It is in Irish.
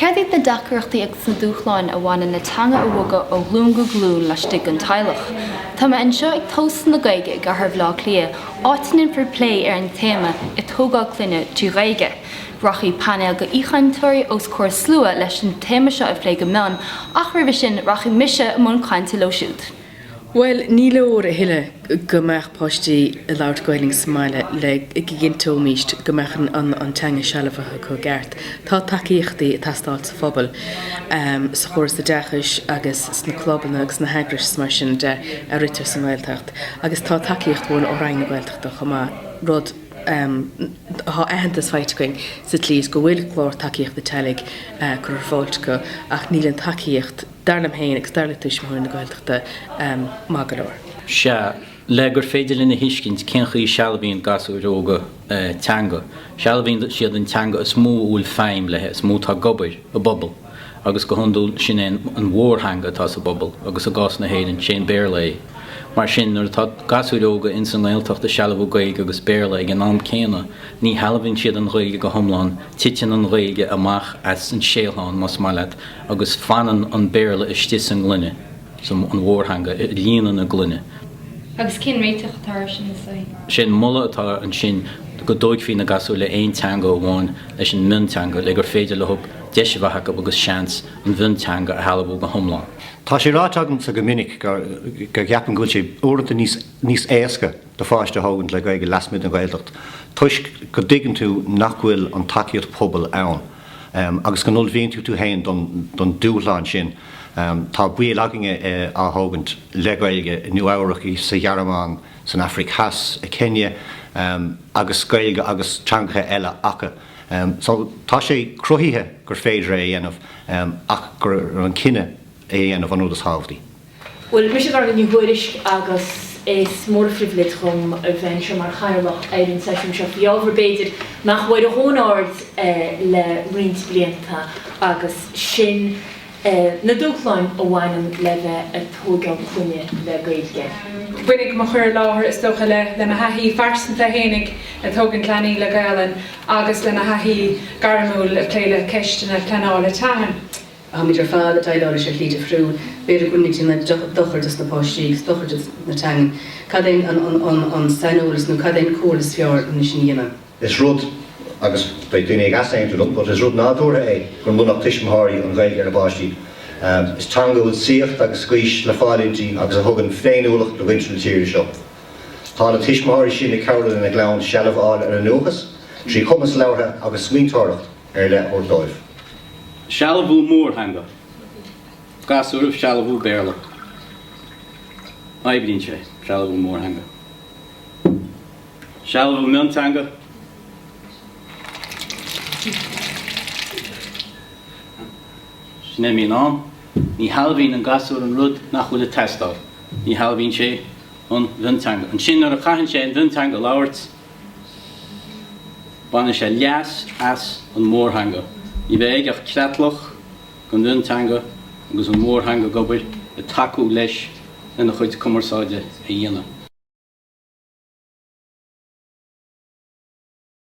Céard iad na deacaireachtaí agus na dúshláin a bhaineann le teanga a bhogadh ó ghlúin go glúin laistigh den teaghlach? Tá mé anseo ag Tóstal na Gaeilge i gcathair Bhleá Cliath, áit a ndéanfar plé ar an téama 'Ag tógáil clainne trí Ghaeilge'. Rachaidh painéal d'aoichainteoirí os comhair slua leis an téama seo a phlé go mion ach roimhe sin rachaidh mise i mbun cainte leo siúd. Bhuel, ní leor a thuilleadh go mbeadh páistí ag labhairt Gaeilge sa mbaile le go gcinnteoimíst go mbeadh an teanga sealbhaithe acu i gceart. Tá tacaíochtaí ag teastáil sa phobal, sa chóras oideachais agus sna clubanna agus sna heagrais is mar sin de a ritear sa nGaeltacht. Agus tá tacaíocht uainn ó Roinn na Gaeltachta chomh maith, rud Tá aitheantas faighte againn sa tslí is go bhfuil clár tacaíochta teaghlaigh curtha ar fáilt acu ach níl an tacaíocht dar liom féin agus dar le Tuismitheoirí na Gaeltachta maith go leor. Sea, le gur féidir linn a thuiscint cén chaoi a sealbhaíonn gasúir óga teanga, sealbhaíonn siad an teanga is mó a bhfuil feidhm léi, is mó atá ag obair i bpobal, agus go hiondúil, sin é an mhórtheanga atá sa bpobal, agus i gcás na hÉireann, sé an Béarla é. Mar sin, nuair atá gasúir óga ins an nGaeltacht ag sealbhú Gaeilge agus Béarla ag an am céanna, ní shealbhaíonn siad an Ghaeilge go hiomlán, titeann an Ghaeilge amach as an síothlán, más maith leat, agus fanann an Béarla istigh sa ngloine, sa, an mhórtheanga, ag líonadh na gloine. Agus cén réiteach atá air sin, is é. Sé an moladh atá ansin go dtóigfaí na gasúir le aon teanga amháin leis an mionteanga le gur féidir leo deis a bheith acu agus seans an mhionteanga a shealbhú go hiomlán. Tá sé ráite agamsa go minic go gceapaim go bhfuil sé uaireanta níos éasca, do pháiste a thógaint le Gaeilge lasmuigh den Ghaeltacht toisc go dtuigeann tú nach bhfuil an tacaíocht pobail ann agus go n-ullmhaíonn tú tú féin don dúshlán sin. Tá baill againne á thógaint le Gaeilge i Nua Eabhrac, sa Ghearmáin, san Afraic Theas, i Kenya agus Gaeilge agus teangacha eile acu. So tá sé cruthaithe gur féidir é a dhéanamh ach gur an cinneadh é a dhéanamh an rud is thábhachtaí. Bhuel, mise Gormfhlaith Ní Thuairisg agus is mór an phribhléid dhom a bheith anseo mar chathaoirleach ar an seisiún seo faoi ábhar, b'fhéidir, nach bhfuair a dhóthain aird air le roinnt blianta agus sin na dúshláin a bhaineann le bheith ag tóigeáil clainne le Gaeilge. Bainfidh mo chur i láthair is dócha le mo thaithí phearsanta fhéinig ag tógaint leanaí le Gaelainn agus le mo thaithí gairmiúil ag plé le ceisteanna pleanála teangan. Táimid ar fad ag déileáil leis an chéad chrú. B'fhéidir go bhfuil muid ag déanamh dochair dos na páistí agus dochair dos na teangain. Cad é an saineolas nó cad é an comhairle is fearr len é sin a dhéanamh? Is rud, agus beidh daoine ag easaontú liom, but is rud nádúrtha é go múinfeadh tuismitheoirí an Ghaeilge dá bpáistí. Is teanga a bhfuil saíocht agus gaois le fáil inti agus a thugann féiniúlacht do mhuintir na tíre seo. Tá na tuismitheoirí sin ag cabhrú lena gclann seilbh a fháil ar a ndúchas, trí chumas labhartha agus smaointeoireachta. ar leith a thabhairt dóibh. Sealbhú mórtheanga, gasúir ag sealbhú Béarla. Oibríonn sé, sealbhú mórtheanga. Sealbhú mionteanga, sin é mian ann, ní shealbhaíonn an gasúr an rud nach bhfuil ag teastáil, ní shealbhaíonn sé an mhionteanga. Ansin nuair a chaitheann sé an mhionteanga a labhairt, Baineann sé leas as an mhórtheanga. Ní bheidh aige ach creatlach de mhionteanga agus an mhórtheanga ag obair ag tacú leis lena chuid cumarsáide a dhéanamh.